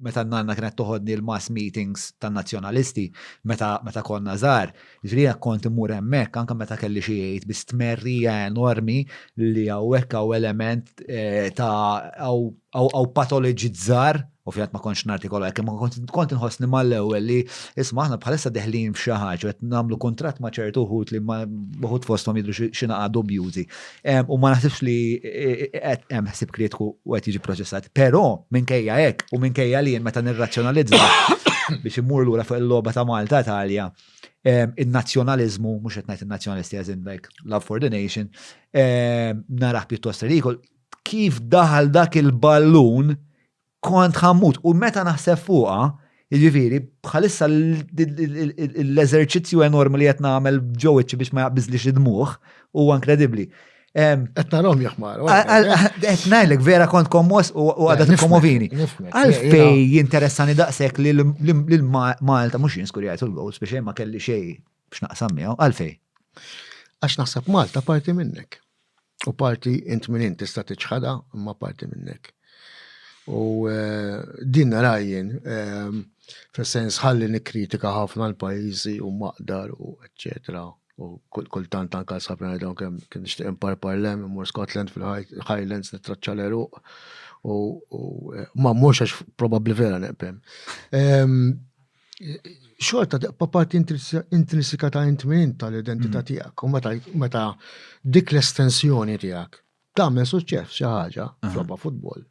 meta n-nanna kienet toħodni l-mass meetings tan-Nazzjonalisti meta meta konna żgħar, jiġri jekk kont immur hemmhekk anke meta kelli xi għid bi stmerrija enormi li hawnhekk hawn element eh, ta' hawn patoloġizzar u fjat ma kontx nartikola hekk ma kont inħossni mal-ewwel li isma' aħna bħalissa deħlin f'xi ħaġa qed nagħmlu kuntratt ma' ċertu wħud li ma wħud fosthom jidru xi naqa' dubjużi. U ma naħsibx li hemm ħsib kritiku u qed jiġi proċessat. Però minkejja hekk u minkejja li meta nirrazzjonalizza biex immur lura fuq il-logħba ta' Malta Italja, in-nazzjonaliżmu, mhux qed ngħid in-nazzjonalisti as in like love for the nation, narah pjuttost ridikol, kif daħal dak il-ballun Kont ħammut u meta naħseb fuqha, Jiġifieri, bħalissa l-eżerċizzju enormi li qed nagħmel ġew iċċi biex ma jaqbiżlix id-dmuħ huwa inkredibbli. Qed narhom jaħmar. Qed ngħidlek vera kont kommos u għadha tikkomovini. Għalfej jinteressani daqshekk li l-Malta mhux jinskurjajt il-goals biex ma kelli xejn Biex naqsam miegħu, għalfej? Għax naħseb Malta parti minnek. U parti int minn int tista' tiċħada imma parti minnek. U eh, din narajjen, eh, fil-sens ħalli nikkritika ħafna l-pajjiżi u maqdar u eċċetera. U kultant anka sabna dawn kemm kien nixtieq impar parlem, imur Scotland fil-Highlands nittraċċa l-eruq u eh, ma mhux għax probabbli vera neqbem. Ehm, xorta tibqa' parti intrinsika ta' int minn int tal-identità mm. tiegħek u meta meta dik l-estensjoni tiegħek tagħmel suċċess xi ħaġa f'logħba futbol.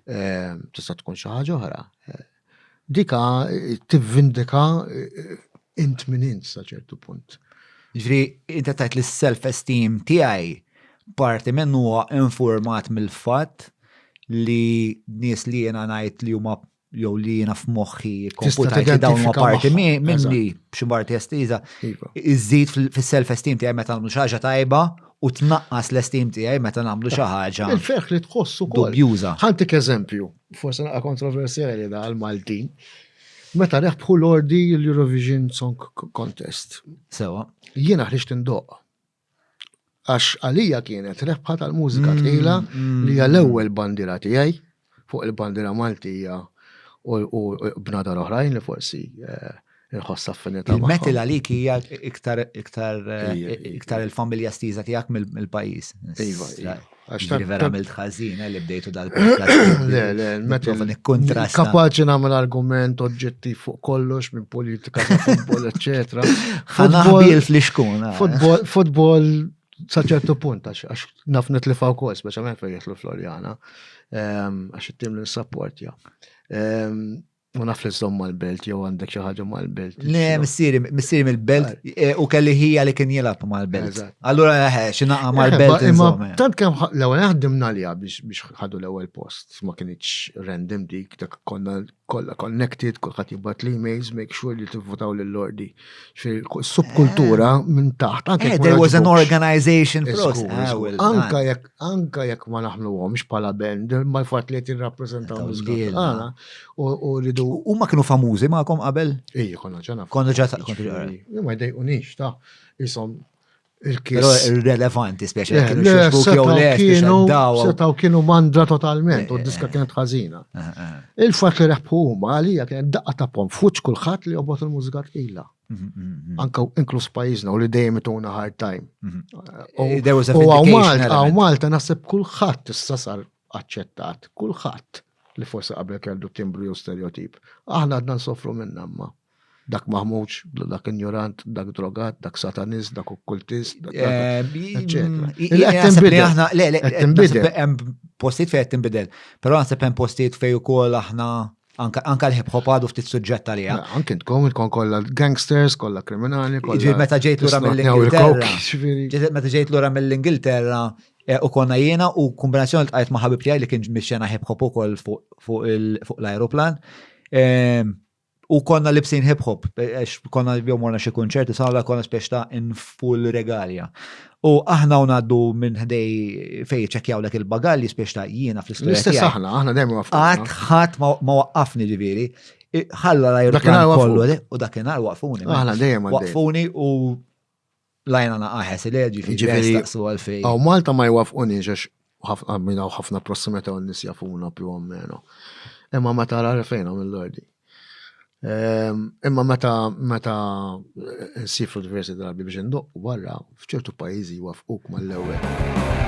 Eh, tista' tkun xi ħaġa oħra. Eh, dika eh, tivvindika int minn int sa ċertu punt. Ġri, inta tajt li s-self-esteem tiegħi parti minn huwa informat mill-fatt li nies li jena ngħid li huma jew li jiena f'moħħi komputajti dawn ma parti minni b'xi parti estiża, iva. iżżid fis-self-esteem tiegħi meta nagħmlu xi ħaġa tajba u tnaqqas l-esteem tiegħi meta nagħmlu xi ħaġa. Il-ferħ li tħossu kol. Dubjuża. Ħantik eżempju, forse naqa' kontroversjali da għal-Maltin. Meta reħbħu l-ordi l-Eurovision Song Contest. Sewa. Jiena ħriġt indoq. Għax għalija kienet rebħa tal-mużika mm, tqila mm. li hija l-ewwel bandira tiegħi fuq il-bandira Maltija u bnadar oħrajn li forsi eh, nħoss affinità. Il-metal għalik hija iktar iktar eh, iktar il-familja stiża tiegħek mill-pajjiż. Iva, iva. Għaxtan. Vera għamilt ħazina eh, li bdejtu dal-podcast. Le, le, meta nikkontrasta. Kapaċi namel argument oġġettiv fuq kollox minn politika, futbol, eccetera. Ħanaħbil fl-iskuna. Eh. Futbol saċertu punt, għax naf nitlifaw kol, speċjalment fejn jitlu Floriana, ehm, għax it-tim li nsapport, ja. Ehm, Ma naf li zom mal-belt, jew għandek xi ħaġa mal-belt. Le, missieri, missieri mill-belt, e, u kelli ħija li kien jilab mal-belt. Allura, eh, eh, xinaqa eh, mal-belt. Imma tant kemm l-ewwel ħaddimna li biex ħadu l-ewwel post, ma kienx random dik, dak konna kollha connected, kulħadd jibgħat li emails make sure li tivvotaw lill-ordi. Subkultura minn taħt. There was an organization process. Ah, Anka jekk anke jekk ma naħnuhomx bħala band, ma l-fatt li qed jirrappreżentaw l-iżgħir tagħna u rridu. Huma kienu famużi magħkom qabel? Ejja, konna ġana. Konna ġana. Jien ma jdejqunix ta' isom il-kies. Relevanti, speċi. Eh, kienu xbuki jew le, kienu setaw kienu mandra totalment u eh, diska eh, kienet ħażina. Il-fatt li reħbu huma għalija kienet daqqa ta' pom fuċ kulħadd li jobot il-mużika tqila. anka inkluż pajjiżna u li dejjem ituna hard time. Mhm. U għaw Malta naħseb kulħadd issa sar aċċettat, kulħadd li forsi qabel kellu timbru jew stereotip. Aħna għadna nsofru minn amma. Dak maħmuġ, dak injorant, dak drogat, dak satanist, dak okkultist, dak eh, Hemm postijiet fejn qed tinbidel, però naħseb hemm postijiet fejn ukoll aħna Anka, anka l-hip hop għadu ftit suġġett għalija. Anke intkom intkom kollha gangsters, kollha kriminali, kollha. Ġifieri meta ġejt lura mill-Ingilterra. Ġifieri meta ġejt lura mill-Ingilterra eh, u konna jiena u kombinazzjoni tqajt ma' ħabib tiegħi li kien mixxena hip hop ukoll fuq l-ajruplan. Ehm, u konna libsin hip hop, eh, għax konna jom morna xi kunċerti, sala konna spiex ta' in full regalia. U aħna u ngħaddu minn ħdej fejn jiċċekkjawlek il-bagalji spiex ta' jiena fl-istess. L-istess aħna, aħna dejjem waqfna. Qatt ħadd ma waqqafni ġifieri. Ħalla l-ajruplan kollu u dakinhar waqfuni. Aħna dejjem waqfuni u lajna naqaħes il-ġifieri. Ġifieri. Għaw Malta ma jwafquni ġax u ħafna minna u ħafna prossimità u nis jafuna più o meno. Imma meta għara fejn għam l-ordi. Ehm, imma meta meta eh, nsifru diversi drabi biex ndoq barra fċertu pajizi wafquk mal-ewwel.